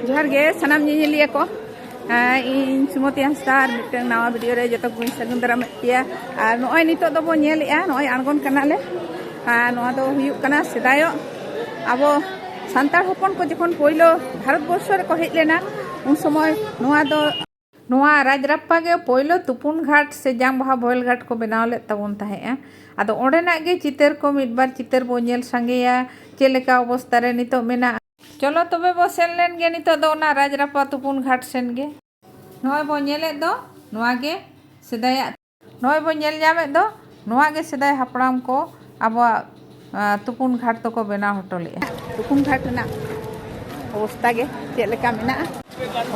ᱡᱚᱦᱟᱨ ᱜᱮ ᱥᱟᱱᱟᱢ ᱧᱮᱧᱮᱞᱤᱭᱟᱹ ᱠᱚ ᱤᱧ ᱥᱩᱢᱚᱛᱤ ᱦᱟᱸᱥᱫᱟ ᱟᱨ ᱢᱤᱫᱴᱟᱝ ᱱᱟᱣᱟ ᱵᱷᱤᱰᱤᱭᱳ ᱨᱮ ᱡᱚᱛᱚ ᱠᱚᱧ ᱥᱟᱹᱜᱩᱱ ᱫᱟᱨᱟᱢᱮᱫ ᱯᱮᱭᱟ ᱟᱨ ᱱᱚᱜᱼᱚᱭ ᱱᱤᱛᱚᱜ ᱫᱚᱵᱚ ᱧᱮᱞᱮᱜᱼᱟ ᱱᱚᱜᱼᱚᱭ ᱟᱬᱜᱚᱱ ᱠᱟᱱᱟᱞᱮ ᱟᱨ ᱱᱚᱣᱟ ᱫᱚ ᱦᱩᱭᱩᱜ ᱠᱟᱱᱟ ᱥᱮᱫᱟᱭᱚᱜ ᱟᱵᱚ ᱥᱟᱱᱛᱟᱲ ᱦᱚᱯᱚᱱ ᱠᱚ ᱡᱚᱠᱷᱚᱱ ᱯᱳᱭᱞᱳ ᱵᱷᱟᱨᱚᱛᱵᱚᱨᱥᱚ ᱨᱮᱠᱚ ᱦᱮᱡ ᱞᱮᱱᱟ ᱩᱱ ᱥᱚᱢᱚᱭ ᱱᱚᱣᱟ ᱫᱚ ᱱᱚᱣᱟ ᱨᱟᱡᱽᱨᱟᱯᱯᱟ ᱜᱮ ᱯᱳᱭᱞᱳ ᱛᱩᱯᱩᱱ ᱜᱷᱟᱴ ᱥᱮ ᱡᱟᱝ ᱵᱟᱦᱟ ᱵᱚᱦᱮᱞ ᱜᱷᱟᱴ ᱠᱚ ᱵᱮᱱᱟᱣ ᱞᱮᱫ ᱛᱟᱵᱚᱱ ᱛᱟᱦᱮᱸᱫᱼᱟ᱾ ᱟᱫᱚ ᱚᱸᱰᱮᱱᱟᱜ ᱜᱮ ᱪᱤᱛᱟᱹᱨ ᱠᱚ ᱢᱤᱫ ᱵᱟᱨ ᱪᱤᱛᱟᱹᱨ ᱵᱚ ᱧᱮᱞ ᱥᱟᱸᱜᱮᱭᱟ ᱪᱮᱫ ᱞᱮᱠᱟ ᱚᱵᱚᱥᱛᱟ ᱨᱮ ᱱᱤᱛᱚᱜ ᱢᱮᱱᱟᱜᱼᱟ᱾ ᱪᱚᱞᱚ ᱛᱚᱵᱮ ᱵᱚ ᱥᱮᱱ ᱞᱮᱱ ᱜᱮ ᱱᱤᱛᱚᱜ ᱫᱚ ᱚᱱᱟ ᱨᱟᱡᱽᱨᱟᱯᱯᱟ ᱛᱩᱯᱩᱱ ᱜᱷᱟᱴ ᱥᱮᱱ ᱜᱮ᱾ ᱱᱚᱜᱼᱚᱭ ᱵᱚ ᱧᱮᱞᱮᱫ ᱫᱚ ᱱᱚᱣᱟ ᱜᱮ ᱥᱮᱫᱟᱭᱟᱜ᱾ ᱱᱚᱜᱼᱚᱭ ᱵᱚᱱ ᱧᱮᱞ ᱧᱟᱢᱮᱫ ᱫᱚ ᱱᱚᱣᱟ ᱜᱮ ᱥᱮᱫᱟᱭ ᱦᱟᱯᱲᱟᱢ ᱠᱚ ᱟᱵᱚᱣᱟᱜ ᱛᱩᱯᱩᱱ ᱜᱷᱟᱴ ᱫᱚᱠᱚ ᱵᱮᱱᱟᱣ ᱦᱚᱴᱚ ᱞᱮᱫᱼᱟ ᱛᱩᱯᱩᱱ ᱜᱷᱟᱴ ᱨᱮᱱᱟᱜ ᱚᱵᱚᱥᱛᱟ ᱜᱮ ᱪᱮᱫ ᱞᱮᱠᱟ ᱢᱮᱱᱟᱜᱼᱟ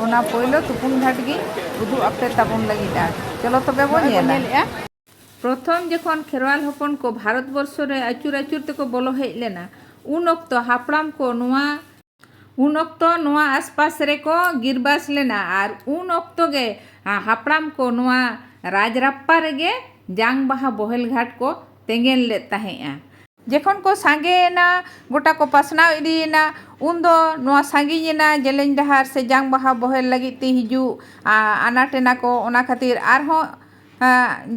ᱚᱱᱟ ᱯᱳᱭᱞᱳ ᱛᱩᱯᱩᱱ ᱜᱷᱟᱴ ᱜᱮ ᱩᱫᱩᱜ ᱟᱯᱮ ᱛᱟᱵᱚᱱ ᱞᱟᱹᱜᱤᱫᱼᱟ ᱪᱚᱞᱚ ᱛᱚᱵᱮ ᱵᱚᱱ ᱧᱮᱞᱮᱫᱼᱟ ᱯᱨᱚᱛᱷᱚᱢ ᱡᱚᱠᱷᱚᱱ ᱠᱷᱮᱨᱣᱟᱞ ᱦᱚᱯᱚᱱ ᱠᱚ ᱵᱷᱟᱨᱚᱛ ᱵᱚᱨᱥᱚ ᱨᱮ ᱟᱹᱪᱩᱨ ᱟᱹᱪᱩᱨ ᱛᱮᱠᱚ ᱵᱚᱞᱚ ᱦᱮᱡ ᱞᱮᱱᱟ ᱩᱱ ᱚᱠᱛᱚ ᱦᱟᱯᱲᱟᱢ ᱠᱚ ᱱᱚᱣᱟ ᱩᱱ ᱚᱠᱛᱚ ᱱᱚᱣᱟ ᱟᱥᱯᱟᱥ ᱨᱮ ᱠᱚ ᱜᱤᱨᱵᱟᱥ ᱞᱮᱱᱟ ᱟᱨ ᱩᱱ ᱚᱠᱛᱚ ᱜᱮ ᱦᱟᱯᱲᱟᱢ ᱠᱚ ᱱᱚᱣᱟ ᱨᱟᱡᱽᱨᱟᱯᱯᱟ ᱨᱮ ᱜᱮ ᱡᱟᱝ ᱵᱟᱦᱟ ᱵᱚᱦᱮᱞ ᱜᱷᱟᱴ ᱠᱚ ᱛᱮᱸᱜᱮᱱ ᱞᱮᱫ ᱛᱟᱦᱮᱸᱫᱼᱟ᱾ ᱡᱮᱠᱷᱚᱱ ᱠᱚ ᱥᱟᱸᱜᱮ ᱮᱱᱟ, ᱜᱚᱴᱟ ᱠᱚ ᱯᱟᱥᱱᱟᱣ ᱤᱫᱤ ᱮᱱᱟ, ᱩᱱ ᱫᱚ ᱱᱚᱣᱟ ᱥᱟᱺᱜᱤᱧ ᱮᱱᱟ ᱡᱮᱞᱮᱧ ᱰᱟᱦᱟᱨ ᱥᱮ ᱡᱟᱝ ᱵᱟᱦᱟ ᱵᱚᱦᱮᱞ ᱞᱟᱹᱜᱤᱫ ᱛᱮ ᱦᱤᱡᱩᱜ ᱟᱱᱟᱴ ᱮᱱᱟ ᱠᱚ ᱚᱱᱟ ᱠᱷᱟᱹᱛᱤᱨ ᱟᱨ ᱦᱚᱸ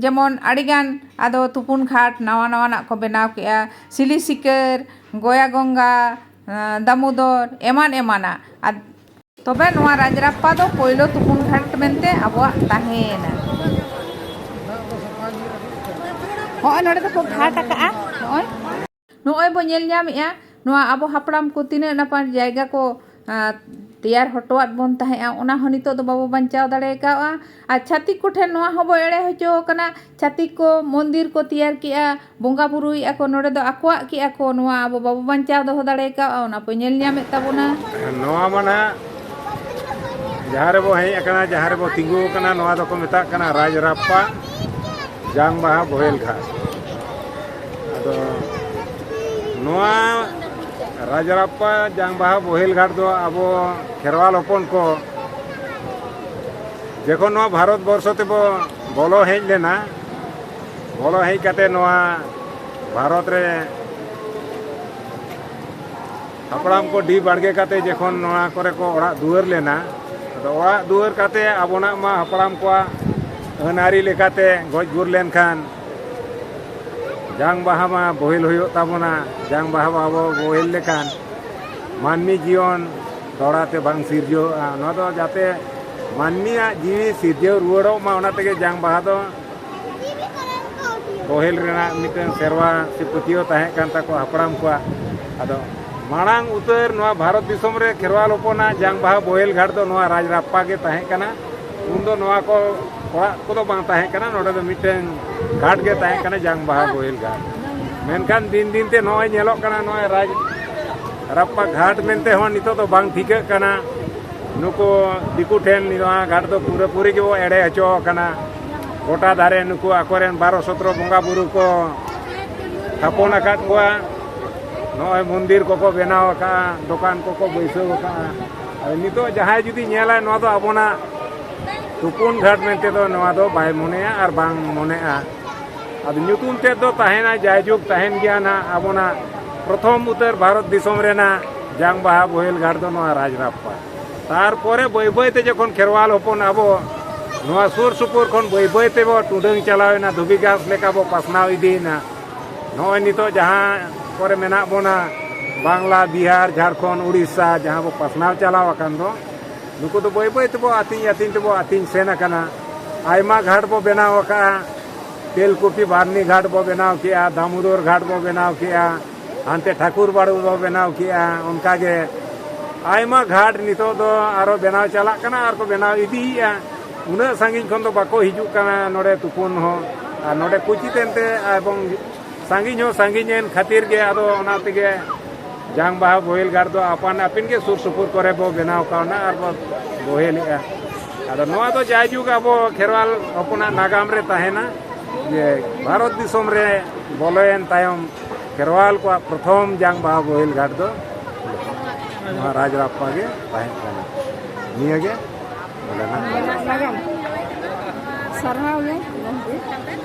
ᱡᱮᱢᱚᱱ ᱟᱹᱰᱤ ᱜᱟᱱ ᱟᱫᱚ ᱛᱩᱯᱩᱱ ᱜᱷᱟᱴ ᱱᱟᱣᱟ ᱱᱟᱣᱟᱱᱟᱜ ᱠᱚ ᱵᱮᱱᱟᱣ ᱠᱮᱫᱼᱟ ᱥᱤᱞᱤ ᱥᱤᱠᱟᱹᱨ, ᱜᱚᱭᱟ ᱜᱚᱝᱜᱟ᱾ ᱫᱟᱢᱳᱫᱚᱨ ᱮᱢᱟᱱ ᱮᱢᱟᱱᱟᱜ ᱛᱚᱵᱮ ᱱᱚᱣᱟ ᱨᱟᱡᱽᱨᱟᱯᱯᱟ ᱫᱚ ᱯᱳᱭᱞᱳ ᱛᱩᱯᱩᱱ ᱜᱷᱟᱴ ᱢᱮᱱᱛᱮ ᱟᱵᱚᱣᱟᱜ ᱛᱟᱦᱮᱸᱭᱮᱱᱟ᱾ ᱦᱚᱸᱜᱼᱚᱭ ᱱᱚᱰᱮ ᱫᱚᱠᱚ ᱜᱷᱟᱴ ᱟᱠᱟᱜᱼᱟ ᱱᱚᱜᱼᱚᱭ᱾ ᱱᱚᱜᱼᱚᱭ ᱵᱚ ᱧᱮᱞ ᱧᱟᱢᱮᱜᱼᱟ ᱱᱚᱣᱟ ᱟᱵᱚ ᱦᱟᱯᱲᱟᱢ ᱠᱚ ᱛᱤᱱᱟᱹᱜ ᱱᱟᱯᱟᱭ ᱡᱟᱭᱜᱟ ᱠᱚ ᱛᱮᱭᱟᱨ ᱦᱚᱴᱚᱣᱟᱫ ᱵᱚᱱ ᱛᱟᱦᱮᱸᱜᱼᱟ ᱚᱱᱟ ᱦᱚᱸ ᱱᱤᱛᱚᱜ ᱫᱚ ᱵᱟᱵᱚ ᱵᱟᱧᱪᱟᱣ ᱫᱟᱲᱮ ᱠᱟᱣᱜᱼᱟ᱾ ᱟᱨ ᱪᱷᱟᱹᱛᱤᱠ ᱠᱚᱴᱷᱮᱱ ᱱᱚᱣᱟ ᱦᱚᱸᱵᱚ ᱮᱲᱮ ᱦᱚᱪᱚ ᱟᱠᱟᱱᱟ ᱪᱷᱟᱹᱛᱤᱠ ᱠᱚ ᱢᱚᱱᱫᱤᱨ ᱠᱚ ᱛᱮᱭᱟᱨ ᱠᱮᱜᱼᱟ ᱵᱚᱸᱜᱟ ᱵᱳᱨᱳᱭᱮᱜᱼᱟ ᱠᱚ ᱱᱚᱰᱮ ᱫᱚ ᱟᱠᱚᱣᱟᱜ ᱠᱮᱜᱼᱟ ᱠᱚ ᱱᱚᱣᱟ ᱟᱵᱚ ᱵᱟᱵᱚ ᱵᱟᱧᱪᱟᱣ ᱫᱚᱦᱚ ᱫᱟᱲᱮ ᱠᱟᱜᱼᱟ ᱚᱱᱟ ᱵᱚ ᱧᱮᱞ ᱧᱟᱢᱮᱫ ᱛᱟᱵᱚᱱᱟ ᱱᱚᱣᱟ ᱢᱟ ᱱᱟᱦᱟᱜ ᱡᱟᱦᱟᱸ ᱨᱮᱵᱚ ᱦᱮᱡ ᱟᱠᱟᱱᱟ ᱡᱟᱦᱟᱸ ᱨᱮᱵᱚ ᱛᱤᱸᱜᱩ ᱟᱠᱟᱱᱟ ᱱᱚᱣᱟ ᱫᱚᱠᱚ ᱢᱮᱛᱟᱜ ᱠᱟᱱᱟ ᱨᱟᱡᱽ ᱨᱟᱯᱯᱟ ᱡᱟᱝ ᱵᱟᱦᱟ ᱵᱚᱦᱮᱞ ᱜᱷᱟᱴ ᱟᱫᱚ ᱱᱚᱣᱟ ᱨᱟᱡᱽ ᱨᱟᱯᱯᱟ ᱡᱟᱝ ᱵᱟᱦᱟ ᱵᱚᱦᱮᱞ ᱜᱷᱟᱴ ᱫᱚ ᱟᱵᱚ ᱠᱷᱮᱨᱣᱟᱞ ᱦᱚᱯᱚᱱ ᱠᱚ ᱡᱚᱠᱷᱚᱱ ᱱᱚᱣᱟ ᱵᱷᱟᱨᱚᱛ ᱵᱚᱨᱥᱚ ᱛᱮᱵᱚ ᱵᱚᱞᱚ ᱦᱮᱡ ᱞᱮᱱᱟ ᱵᱚᱞᱚ ᱦᱮᱡ ᱠᱟᱛᱮ ᱱᱚᱣᱟ ᱵᱷᱟᱨᱚᱛ ᱨᱮ ᱦᱟᱯᱲᱟᱢ ᱠᱚ ᱰᱤ ᱵᱟᱲᱜᱮ ᱠᱟᱛᱮ ᱡᱚᱠᱷᱚᱱ ᱱᱚᱣᱟ ᱠᱚᱨᱮ ᱠᱚ ᱚᱲᱟᱜ ᱫᱩᱣᱟᱹᱨ ᱞᱮᱱᱟ ᱟᱫᱚ ᱚᱲᱟᱜ ᱫᱩᱣᱟᱹᱨ ᱠᱟᱛᱮ ᱟᱵᱚᱱᱟᱜ ᱢᱟ ᱦᱟᱯᱲᱟᱢ ᱠᱚᱣᱟᱜ ᱟᱹᱱ ᱟᱹᱨᱤ ᱞᱮᱠᱟᱛᱮ ᱜᱚᱡ ᱜᱩᱨ ᱞᱮᱱᱠᱷᱟᱱ ᱡᱟᱝ ᱵᱟᱦᱟ ᱢᱟ ᱵᱳᱦᱮᱞ ᱦᱩᱭᱩᱜ ᱛᱟᱵᱚᱱᱟ ᱡᱟᱝ ᱵᱟᱦᱟ ᱵᱟᱵᱚ ᱵᱳᱦᱮᱞ ᱞᱮᱠᱷᱟᱱ ᱢᱟᱹᱱᱢᱤ ᱡᱤᱭᱚᱱ ᱫᱚᱲᱟ ᱛᱮ ᱵᱟᱝ ᱥᱤᱨᱡᱟᱹᱣᱚᱜᱼᱟ ᱱᱚᱣᱟ ᱫᱚ ᱡᱟᱛᱮ ᱢᱟᱹᱱᱢᱤᱭᱟᱜ ᱡᱤᱣᱤ ᱥᱤᱨᱡᱟᱹᱣ ᱨᱩᱣᱟᱹᱲᱚᱜ ᱢᱟ ᱚᱱᱟ ᱛᱮᱜᱮ ᱡᱟᱝ ᱵᱟᱦᱟ ᱫᱚ ᱯᱟᱹᱦᱤᱞ ᱨᱮᱱᱟᱜ ᱢᱤᱫᱴᱟᱝ ᱥᱮᱨᱣᱟ ᱥᱮ ᱯᱟᱹᱛᱭᱟᱹᱣ ᱛᱟᱦᱮᱸ ᱠᱟᱱ ᱛᱟᱠᱚᱣᱟ ᱦᱟᱯᱲᱟᱢ ᱠᱚᱣᱟᱜ ᱟᱫᱚ ᱢᱟᱲᱟᱝ ᱩᱛᱟᱹᱨ ᱱᱚᱣᱟ ᱵᱷᱟᱨᱚᱛ ᱫᱤᱥᱚᱢ ᱨᱮ ᱠᱷᱮᱨᱣᱟᱞ ᱦᱚᱯᱚᱱᱟᱜ ᱡᱟᱝ ᱵᱟᱦᱟ ᱵᱳᱦᱮᱞ ᱜᱷᱟᱴ ᱫᱚ ᱱᱚᱣᱟ ᱨᱟᱡᱽ ᱨᱟᱯᱯᱟ ᱜᱮ ᱛᱟᱦᱮᱸ ᱠᱟᱱᱟ ᱩᱱ ᱫᱚ ᱱᱚᱣᱟ ᱠᱚ ᱚᱲᱟᱜ ᱠᱚᱫᱚ ᱵᱟᱝ ᱛᱟᱦᱮᱸ ᱠᱟᱱᱟ ᱱᱚᱰᱮ ᱫᱚ ᱢᱤᱫᱴᱟᱝ ᱜᱷᱟᱴ ᱜᱮ ᱛᱟᱦᱮᱸ ᱠᱟᱱᱟ ᱡᱟᱝ ᱵᱟᱦᱟ ᱵᱳᱦᱮᱞ ᱜᱷᱟᱴ ᱢᱮᱱᱠᱷᱟᱱ ᱫᱤᱱ ᱫᱤᱱ ᱛᱮ ᱱᱚᱜᱼᱚᱭ ᱧᱮᱞᱚᱜ ᱠᱟᱱᱟ ᱱᱚᱜᱼᱚᱭ ᱨᱟᱡᱽ ᱨᱟᱯᱯᱟ ᱜᱷᱟᱴ ᱢᱮᱱᱛᱮ ᱦᱚᱸ ᱱᱤᱛᱚᱜ ᱫᱚ ᱵᱟᱝ ᱴᱷᱤᱠᱟᱹᱜ ᱠᱟᱱᱟ ᱱᱩᱠᱩ ᱫᱤᱠᱩ ᱴᱷᱮᱱ ᱱᱚᱣᱟ ᱜᱷᱟᱴ ᱫᱚ ᱯᱩᱨᱟᱹ ᱯᱩᱨᱤ ᱜᱮᱵᱚ ᱮᱲᱮ ᱦᱚᱪᱚ ᱟᱠᱟᱱᱟ ᱜᱚᱴᱟ ᱫᱷᱟᱨᱮ ᱱᱩᱠᱩ ᱟᱠᱚᱨᱮᱱ ᱵᱟᱨᱚ ᱥᱚᱛᱨᱚ ᱵᱚᱸᱜᱟ ᱵᱩᱨᱩ ᱠᱚ ᱛᱷᱟᱯᱚᱱ ᱟᱠᱟᱫ ᱠᱚᱣᱟ ᱱᱚᱜᱼᱚᱭ ᱢᱚᱱᱫᱤᱨ ᱠᱚᱠᱚ ᱵᱮᱱᱟᱣ ᱟᱠᱟᱫᱼᱟ ᱫᱚᱠᱟᱱ ᱠᱚᱠᱚ ᱵᱟᱹᱭᱥᱟᱹᱣ ᱟᱠᱟᱫᱼᱟ ᱟᱫᱚ ᱱᱤᱛᱚᱜ ᱡᱟᱦᱟᱸᱭ ᱡᱩᱫᱤ ᱧᱮᱞᱟᱭ ᱱᱚᱣᱟ ᱫᱚ ᱟᱵᱚᱱᱟᱜ ᱛᱩᱯᱩᱱ ᱜᱷᱟᱴ ᱢᱮᱱᱛᱮ ᱫᱚ ᱱᱚᱣᱟ ᱫᱚ ᱵᱟᱭ ᱢᱚᱱᱮᱭᱟ ᱟᱨ ᱵᱟᱝ ᱢᱚᱱᱮᱜᱼᱟ ᱟᱫᱚ ᱧᱩᱛᱩᱢ ᱛᱮᱫ ᱫᱚ ᱛᱟᱦᱮᱱᱟ ᱡᱟᱭᱡᱩᱜᱽ ᱛᱟᱦᱮᱱ ᱜᱮᱭᱟ ᱱᱟᱜ ᱟᱵᱚᱱᱟᱜ ᱯᱨᱚᱛᱷᱚᱢ ᱩᱛᱟᱹᱨ ᱵᱷᱟᱨᱚᱛ ᱫᱤᱥᱚᱢ ᱨᱮᱱᱟᱜ ᱡᱟᱝ ᱵᱟᱦᱟ ᱵᱳᱦᱮᱞ ᱜᱷᱟᱴ ᱫᱚ ᱱᱚᱣᱟ ᱨᱟᱡᱽᱨᱟᱯᱯᱟ ᱛᱟᱨᱯᱚᱨᱮ ᱵᱟᱹᱭ ᱵᱟᱹᱭ ᱛᱮ ᱡᱚᱠᱷᱚᱱ ᱠᱷᱮᱨᱣᱟᱞ ᱦᱚᱯᱚᱱ ᱟᱵᱚ ᱱᱚᱣᱟ ᱥᱩᱨ ᱥᱩᱯᱩᱨ ᱠᱷᱚᱱ ᱵᱟᱹᱭ ᱵᱟᱹᱭ ᱛᱮᱵᱚ ᱴᱩᱰᱟᱹᱝ ᱪᱟᱞᱟᱣᱮᱱᱟ ᱫᱷᱩᱵᱤ ᱜᱷᱟᱥ ᱞᱮᱠᱟ ᱵᱚ ᱯᱟᱥᱱᱟᱣ ᱤᱫᱤᱭᱮᱱᱟ ᱱᱚᱜᱼᱚᱭ ᱱᱤᱛᱚᱜ ᱡᱟᱦᱟᱸ ᱠᱚᱨᱮ ᱢᱮᱱᱟᱜ ᱵᱚᱱᱟ ᱵᱟᱝᱞᱟ ᱵᱤᱦᱟᱨ ᱡᱷᱟᱲᱠᱷᱚᱸᱰ ᱩᱲᱤᱥᱥᱟ ᱡᱟᱦᱟᱸ ᱵᱚ ᱯᱟᱥᱱᱟᱣ ᱪᱟᱞᱟᱣ ᱟᱠᱟᱱ ᱫᱚ ᱱᱩᱠᱩ ᱫᱚ ᱵᱟᱹᱭ ᱵᱟᱹᱭ ᱛᱮᱵᱚ ᱟᱹᱛᱤᱧ ᱟᱹᱛᱤᱧ ᱛᱮᱵᱚ ᱟᱹᱛᱤᱧ ᱥᱮᱱ ᱟᱠᱟᱱᱟ ᱟᱭᱢᱟ ᱜᱷᱟᱴ ᱵᱚ ᱵᱮᱱᱟᱣ ᱟᱠᱟᱫᱼᱟ ᱛᱮᱞᱠᱩᱯᱤ ᱵᱟᱨᱱᱤ ᱜᱷᱟᱴ ᱵᱚ ᱵᱮᱱᱟᱣ ᱠᱮᱜᱼᱟ ᱫᱟᱢᱳᱫᱚᱨ ᱜᱷᱟᱴ ᱵᱚ ᱵᱮᱱᱟᱣ ᱠᱮᱜᱼᱟ ᱦᱟᱱᱛᱮ ᱴᱷᱟᱠᱩᱨ ᱵᱟᱲᱩ ᱵᱚ ᱵᱮᱱᱟᱣ ᱠᱮᱜᱼᱟ ᱚᱱᱠᱟᱜᱮ ᱟᱭᱢᱟ ᱜᱷᱟᱴ ᱱᱤᱛᱚᱜ ᱫᱚ ᱟᱨᱚ ᱵᱮᱱᱟᱣ ᱪᱟᱞᱟᱜ ᱠᱟᱱᱟ ᱟᱨ ᱠᱚ ᱵᱮᱱᱟᱣ ᱤᱫᱤᱭᱮᱜᱼᱟ ᱩᱱᱟᱹᱜ ᱥᱟᱺᱜᱤᱧ ᱠᱷᱚᱱ ᱫᱚ ᱵᱟᱠᱚ ᱦᱤᱡᱩᱜ ᱠᱟᱱᱟ ᱱᱚᱰᱮ ᱛᱩᱯᱩᱱ ᱦᱚᱸ ᱟᱨ ᱱᱚᱰᱮ ᱠᱳᱪᱤ ᱛᱮᱱᱛᱮ ᱮᱵᱚᱝ ᱥᱟᱺᱜᱤᱧ ᱦᱚᱸ ᱥᱟᱺᱜᱤᱧ ᱮᱱ ᱠᱷᱟᱹᱛᱤᱨ ᱜᱮ ᱟᱫᱚ ᱚᱱᱟ ᱛᱮᱜᱮ ᱡᱟᱝ ᱵᱟᱦᱟ ᱵᱳᱦᱮᱞ ᱜᱟᱲ ᱫᱚ ᱟᱯᱟᱱ ᱟᱹᱯᱤᱱ ᱜᱮ ᱥᱩᱨ ᱥᱩᱯᱩᱨ ᱠᱚᱨᱮ ᱵᱚ ᱵᱮᱱᱟᱣ ᱠᱟᱣᱱᱟ ᱟᱨ ᱵᱚ ᱵᱳᱦᱮᱞᱮᱜᱼᱟ ᱟᱫᱚ ᱱᱚᱣᱟ ᱫᱚ ᱡᱟᱭᱡᱩᱜᱽ ᱟᱵᱚ ᱠᱷᱮᱨᱣᱟᱞ ᱦᱚᱯᱚᱱᱟᱜ ᱱᱟᱜᱟᱢ ᱨᱮ ᱛᱟᱦᱮᱱᱟ ᱡᱮ ᱵᱷᱟᱨᱚᱛ ᱫᱤᱥᱚᱢ ᱨᱮ ᱵᱚᱞᱚᱭᱮᱱ ᱛᱟᱭᱚᱢ ᱠᱷᱮᱨᱣᱟᱞ ᱠᱚᱣᱟᱜ ᱯᱨᱚᱛᱷᱚᱢ ᱡᱟᱝ ᱵᱟᱦᱟ ᱵᱳᱦᱮᱞ ᱜᱟᱲ ᱫᱚ ᱱᱚᱣᱟ ᱨᱟᱡᱽ ᱨᱟᱯᱯᱟ ᱜᱮ ᱛᱟᱦᱮᱸ ᱠᱟᱱᱟ ᱱᱤᱭᱟᱹ ᱜᱮ ᱵᱚᱞᱮᱱᱟ ᱥᱟᱨᱦᱟᱣ ᱜᱮ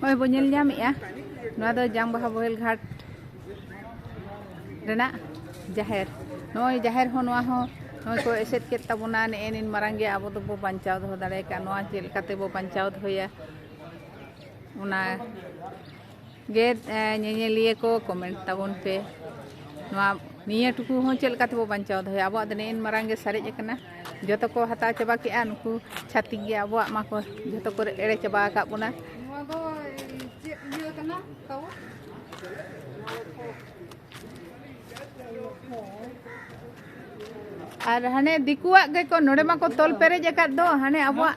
ᱦᱳᱭ ᱵᱚ ᱧᱮᱞ ᱧᱟᱢᱮᱜᱼᱟ ᱱᱚᱣᱟ ᱫᱚ ᱡᱟᱝ ᱵᱟᱦᱟ ᱵᱚᱦᱮᱞ ᱜᱷᱟᱴ ᱨᱮᱱᱟᱜ ᱡᱟᱦᱮᱨ ᱱᱚᱜᱼᱚᱭ ᱡᱟᱦᱮᱨ ᱦᱚᱸ ᱱᱚᱣᱟ ᱦᱚᱸ ᱱᱚᱜᱼᱚᱭ ᱠᱚ ᱮᱥᱮᱫ ᱠᱮᱫ ᱛᱟᱵᱚᱱᱟ ᱱᱮᱜᱼᱮ ᱱᱤᱱ ᱢᱟᱨᱟᱝ ᱜᱮ ᱟᱵᱚ ᱫᱚᱵᱚ ᱵᱟᱧᱪᱟᱣ ᱫᱚᱦᱚ ᱫᱟᱲᱮ ᱠᱟᱜᱼᱟ ᱱᱚᱣᱟ ᱪᱮᱫ ᱞᱮᱠᱟᱛᱮ ᱵᱚ ᱵᱟᱧᱪᱟᱣ ᱫᱚᱦᱚᱭᱟ ᱚᱱᱟ ᱜᱮ ᱧᱮᱧᱮᱞᱤᱭᱟᱹ ᱠᱚ ᱠᱚᱢᱮᱱᱴ ᱛᱟᱵᱚᱱ ᱯᱮ ᱱᱚᱣᱟ ᱱᱤᱭᱟᱹ ᱴᱩᱠᱩ ᱦᱚᱸ ᱪᱮᱫ ᱞᱮᱠᱟ ᱛᱮᱵᱚ ᱵᱟᱧᱪᱟᱣ ᱫᱚᱦᱚᱭᱟ ᱟᱵᱚᱣᱟᱜ ᱫᱚ ᱱᱮᱜᱼᱮᱱ ᱢᱟᱨᱟᱝ ᱜᱮ ᱥᱟᱨᱮᱡ ᱟᱠᱟᱱᱟ ᱡᱚᱛᱚ ᱠᱚ ᱦᱟᱛᱟᱣ ᱪᱟᱵᱟ ᱠᱮᱜᱼᱟ ᱱᱩᱠᱩ ᱪᱷᱟᱹᱛᱤᱠ ᱜᱮ ᱟᱵᱚᱣᱟᱜ ᱢᱟ ᱠᱚ ᱡᱚᱛᱚ ᱠᱚ ᱮᱲᱮ ᱪᱟᱵᱟ ᱟᱠᱟᱫ ᱵᱚᱱᱟ ᱱᱚᱣᱟ ᱫᱚ ᱪᱮᱫ ᱤᱭᱟᱹ ᱠᱟᱱᱟ ᱛᱟᱣ ᱟᱨ ᱦᱟᱱᱮ ᱫᱤᱠᱩᱣᱟᱜ ᱜᱮᱠᱚ ᱱᱚᱰᱮ ᱢᱟᱠᱚ ᱛᱚᱞ ᱯᱮᱨᱮᱡ ᱟᱠᱟᱫ ᱫᱚ ᱦᱟᱱᱮ ᱟᱵᱚᱣᱟᱜ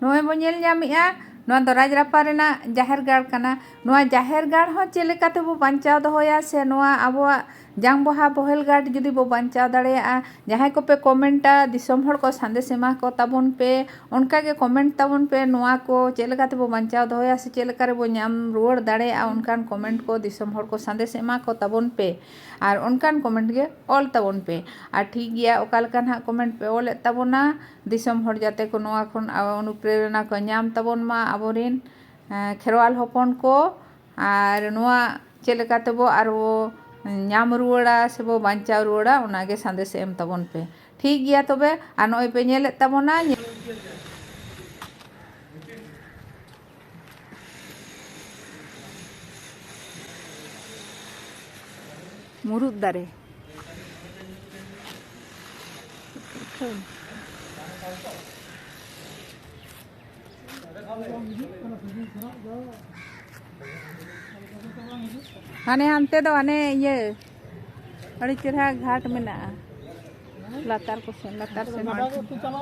ᱱᱚᱜᱼᱚᱭ ᱵᱚᱱ ᱧᱮᱞ ᱧᱟᱢᱮᱜᱼᱟ ᱱᱚᱣᱟ ᱫᱚ ᱨᱟᱡᱽᱨᱟᱯᱟ ᱨᱮᱱᱟᱜ ᱡᱟᱦᱮᱨ ᱜᱟᱲ ᱠᱟᱱᱟ ᱱᱚᱣᱟ ᱡᱟᱦᱮᱨ ᱜᱟᱲ ᱦᱚᱸ ᱪᱮᱫ ᱞᱮᱠᱟ ᱛᱮᱵᱚ ᱵᱟᱧᱪᱟᱣ ᱫᱚᱦᱚᱭᱟ ᱥᱮ ᱱᱚᱣᱟ ᱟᱵᱚᱣᱟᱜ ᱡᱟᱝ ᱵᱟᱦᱟ ᱵᱚᱦᱮᱞ ᱜᱟᱲ ᱡᱩᱫᱤ ᱵᱚ ᱵᱟᱧᱪᱟᱣ ᱫᱟᱲᱮᱭᱟᱜᱼᱟ ᱡᱟᱦᱟᱸᱭ ᱠᱚᱯᱮ ᱠᱚᱢᱮᱱᱴᱟ ᱫᱤᱥᱚᱢ ᱦᱚᱲ ᱠᱚ ᱥᱟᱸᱫᱮᱥ ᱮᱢᱟ ᱠᱚ ᱛᱟᱵᱚᱱ ᱯᱮ ᱚᱱᱠᱟ ᱜᱮ ᱠᱚᱢᱮᱱᱴ ᱛᱟᱵᱚᱱ ᱯᱮ ᱱᱚᱣᱟ ᱠᱚ ᱪᱮᱫ ᱞᱮᱠᱟ ᱛᱮᱵᱚ ᱵᱟᱧᱪᱟᱣ ᱫᱚᱦᱚᱭᱟ ᱥᱮ ᱪᱮᱫ ᱞᱮᱠᱟ ᱨᱮᱵᱚ ᱧᱟᱢ ᱨᱩᱣᱟᱹᱲ ᱫᱟᱲᱮᱭᱟᱜᱼᱟ ᱚᱱᱠᱟᱱ ᱠᱚᱢᱮᱱᱴ ᱠᱚ ᱫᱤᱥᱚᱢ ᱦᱚᱲ ᱠᱚ ᱥᱟᱸᱫᱮᱥ ᱮᱢᱟ ᱠᱚ ᱛᱟᱵᱚᱱ ᱯᱮ ᱟᱨ ᱚᱱᱠᱟᱱ ᱠᱚᱢᱮᱱᱴ ᱜᱮ ᱚᱞ ᱛᱟᱵᱚᱱ ᱯᱮ ᱟᱨ ᱴᱷᱤᱠ ᱜᱮᱭᱟ ᱚᱠᱟ ᱞᱮᱠᱟ ᱱᱟᱦᱟᱜ ᱠᱚᱢᱮᱱᱴ ᱯᱮ ᱚᱞᱮᱫ ᱛᱟᱵᱚᱱᱟ ᱫᱤᱥᱚᱢ ᱦᱚᱲ ᱡᱟᱛᱮ ᱠᱚ ᱱᱚᱣᱟ ᱠᱷᱚᱱ ᱚᱱᱩᱯᱨᱮᱨᱚᱱᱟ ᱠᱚ ᱧᱟᱢ ᱛᱟᱵᱚᱱ ᱢᱟ ᱟᱵᱚ ᱨᱮᱱ ᱠᱷᱮᱨᱣᱟᱞ ᱦᱚᱯᱚᱱ ᱠᱚ ᱟᱨ ᱱᱚᱣᱟ ᱪᱮᱫ ᱞᱮᱠᱟ ᱛᱮᱵᱚ ᱟᱨ ᱵᱚ ᱧᱟᱢ ᱨᱩᱣᱟᱹᱲᱟ ᱥᱮ ᱵᱚ ᱵᱟᱧᱪᱟᱣ ᱨᱩᱣᱟᱹᱲᱟ ᱚᱱᱟ ᱜᱮ ᱥᱟᱸᱫᱮᱥ ᱮᱢ ᱛᱟᱵᱚᱱ ᱯᱮ ᱴᱷᱤᱠ ᱜᱮᱭᱟ ᱛᱚᱵᱮ ᱟᱨ ᱱᱚᱜᱼᱚᱭ ᱯᱮ ᱧᱮᱞᱮᱫ ᱛᱟᱵᱚᱱᱟ ᱢᱩᱨᱩᱫ ᱫᱟᱨᱮ ᱦᱟᱱᱮ ᱦᱟᱱᱛᱮ ᱫᱚ ᱦᱟᱱᱮ ᱤᱭᱟᱹ ᱟᱹᱰᱤ ᱪᱮᱨᱦᱟ ᱜᱷᱟᱴ ᱢᱮᱱᱟᱜᱼᱟ ᱞᱟᱛᱟᱨ ᱠᱚ ᱥᱮᱱ ᱞᱟᱛᱟᱨ ᱥᱮᱱ